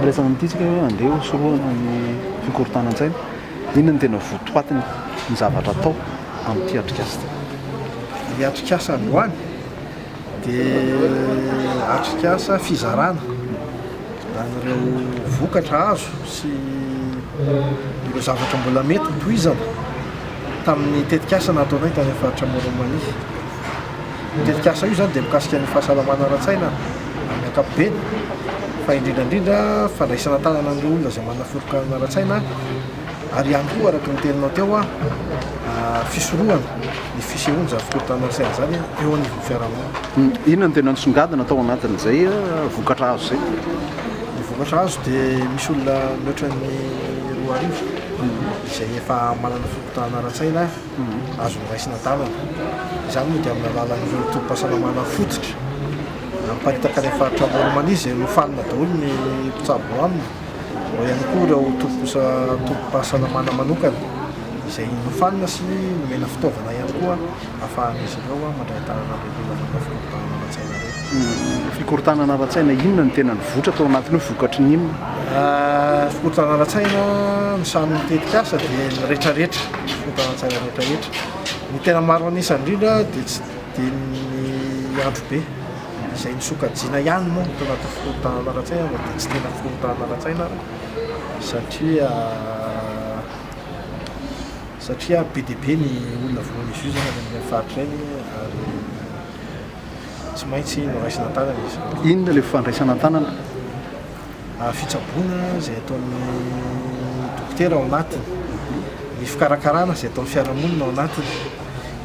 Miresaka amin'ity isika hoe andeha hosorohana ny fikorontanan-tsaina. Inona no tena votoatiny ny zavatra atao amin'ity atrikasa ity? Ny atrikasa androany dia atrikasa fizarana an'ireo vokatra azo sy ireo zavatra mbola mety ho tohizana tamin'ny tetikasa nataonay tany amin'ny faritra Moronmania. Io tetikasa io izany dia mikasika ny fahasalamana ara-tsaina amin'ny ankapobeny fa indrindra indrindra fandraisana an-tanana an'ireo olona izay manana foronkirana ara-tsaina ary ihany koa araka ny teninao teo aho fisorohana ny fisehoana izany fikorontanana ara-tsaina izany eo anivon'ny fiarahamonina. Inona no tena nisongadina tao anatin'izay vokatra azo izay? Ny vokatra azo dia misy olona mihoatra ny roa arivo izay efa manana fikorontanana ara-tsaina. azo noraisina tanana. Izany moa dia amin'ny alalan'ireo tobim-pahasalamana fototra na miparitaka any amin'ny faritra Amoron'i Mania izay nofanina daholo ny mpitsabo ao aminy. Ao ihany koa ireo tobim-posa tobim-pahasalamana manokana izay nofanina sy nomena fitaovana ihany koa ahafahan'izy ireo mandray an-tanana an'ireo. Nanaovana fikorontanana ara-tsaina re. Fikorontanana ara-tsaina inona no tena nivoitra tao anatiny io? Vokatry ny inona? Fikorontanana ara-tsaina, ny sahanin'ny tetikasa dia ny rehetrarehetra, fikorontanana ara-tsaina rehetrarehetra. Ny tena maro an'isa indrindra dia tsy dia ny androbe izay nosokajiana ihany moa no tao anatin'ny fikorontanana ara-tsaina fa dia tsy tena fikorontanana ara-tsaina ary satria satria be dia be ny olona voan'ny jus zany any amin'ireny faritra ireny ary tsy maintsy noraisina an-tanana izy. Inona ilay fandraisana an-tanana? Fitsaboana izay ataon'ny dokotera ao anatiny, ny fikarakarana izay ataon'ny fiarahamonina ao anatiny.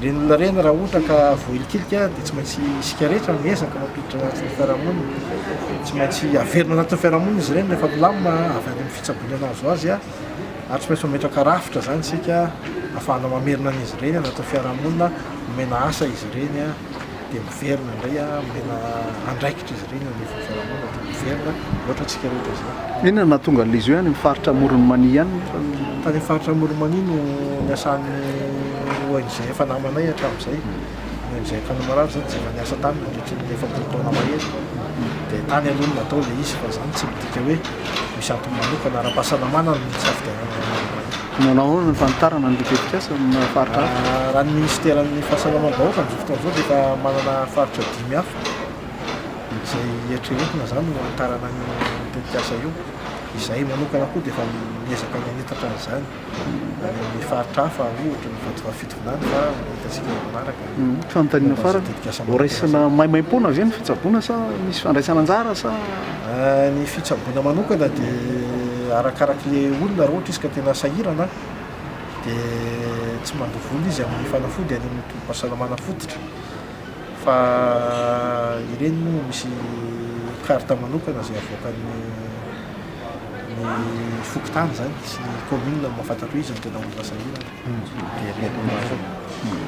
Ireny olona ireny raha ohatra ka voahilikilika dia tsy maintsy isika rehetra miezaka mampiditra anatin'ny fiarahamonina, tsy maintsy averina anatin'ny fiarahamonina izy ireny rehefa milamina avy any amin'ny fitsaboana nahazo azy. ary tsy maintsy mametraka rafitra izany isika ahafahana mamerina an'izy ireny anatin'ny fiarahamonina, omena asa izy ireny dia miverina indray, omena andraikitra izy ireny eo anivon'ny fiarahamonina dia miverina, mihoatra antsika rehetra izany. Inona no nahatonga an'ilay izy hoe any amin'ny faritra Amoron'i Mania ihany nefa no. Tany amin'ny faritra Amoron'i Mania no niasan'ny ONG efa namanay hatramin'izay. noho izay tany marary zany tsy efa niasa tany nandritry ny efapolo taona mahery dia tany aloha no natao ilay izy fa izany tsy midika hoe misy antony manokana ara-pahasalamana no nisafidianana ny manao izany. Manao ahoana ny fanitarana ny tetikasa amin'ny faritra hafa? Raha ny minisiteran'ny fahasalamam-bahoaka amin'izao fotoana izao dia efa manana faritra dimy hafa izay eritreretina izany ho hanitarana an'io tetikasa io. Izahay manokana koa dia efa miezaka ny hanitatra an'izany. any amin'ny faritra hafa ohatra ny faritra Fitovinany fa hitantsika eo manaraka ny Fanontaniana momba ny farany, tetikasa ho manokana raisina izany. maimaimpoana ve ny fitsaboana sa misy fandraisana anjara sa? Ah, ny fitsaboana manokana dia arakarak'ilay olona, raha ohatra izy ka tena sahirana dia tsy mandoa vola izy amin'ny fanafody any amin'ny tobim-pahasalamana fototra fa ireny moa misy carte manokana izay avoakan'ny. ny fokontany izany sy ny commune no mahafantatra hoe iza no tena olona sahirana dia mety ho marina.